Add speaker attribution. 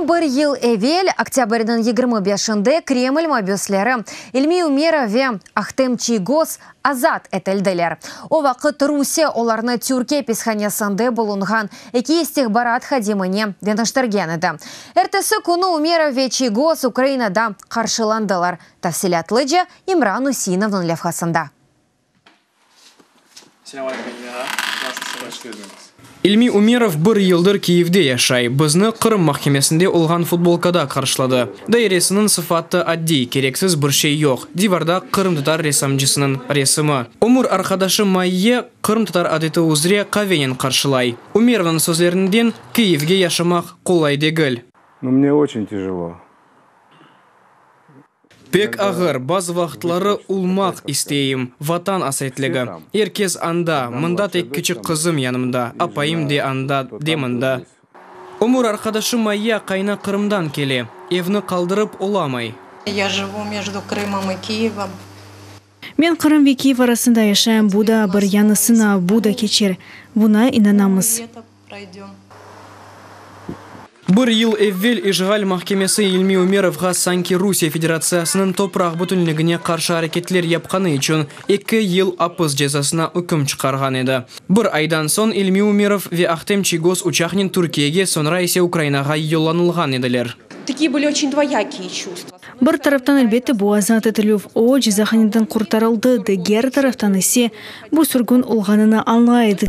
Speaker 1: Tam bir yıl evel, oktâbrniñ yigirmi beşinde Kreml mabüsleri İlmiy Ümerov ve Ahtem Çiygoz azat etildiler. O vaqıt Rusiye olarnı Türkiye apishanesinde bulunğan eki istihbarat hadimine deñiştirgen edi. Ertesi künü Ümerov ve Çiygoz Ukrainada qarşılandılar, tafsilâtlıca İmran Üseynovnıñ levhasında.
Speaker 2: İlmi Ümerov bir yıldır Kyivde yaşay, bizni Qırım mahkemesinde olğan futbolkada qarşıladı. Dairesiniñ sıfatı addiy, kereksiz bir şey yoq, divarda qırımtatar ressamcısınıñ resimi. Ömür arqadaşı Maiye qırımtatar adeti üzre qavenen qarşılay. Ümerovnıñ sözlerinden, Kyivge yaşamaq qolay degil. No mne oçün
Speaker 3: tijelo.
Speaker 2: Pek ağır, bazı vaqıtları ulmaq isteyim, Vatan asetligi. Er kez anda, mında tek kiçik qızım yanımda, apayım de anda, de mında. Ömür arqadaşı Maya qayna Qırımdan kele, evni qaldırıp olamay. Ya jıvu
Speaker 4: mejdu Krımım i Kiyevım. Men
Speaker 5: Qırım ve Kiyev arasında yaşayım, bu da bir yañısına, bu da keçer. Buna inanamız.
Speaker 2: Bir yıl evvel işğal mahkemesi İlmi Ümerovğa sanki Rusiye Federatsiyasınıñ topraq bütünligine qarşı areketler yapqanı içün eki yıl apis cezasına üküm çıqarğan edi. Bir aydan soñ İlmi Ümerov ve Ahtem Çiygoz uçaqnen Türkiyege, soñra ise Ukrainağa yollanılğan ediler.
Speaker 5: Bir taraftan, elbette, bu azat etilüv, o, cezahaneden qurtarıldı, diger taraftan ise, bu sürgün olğanını añlay edi.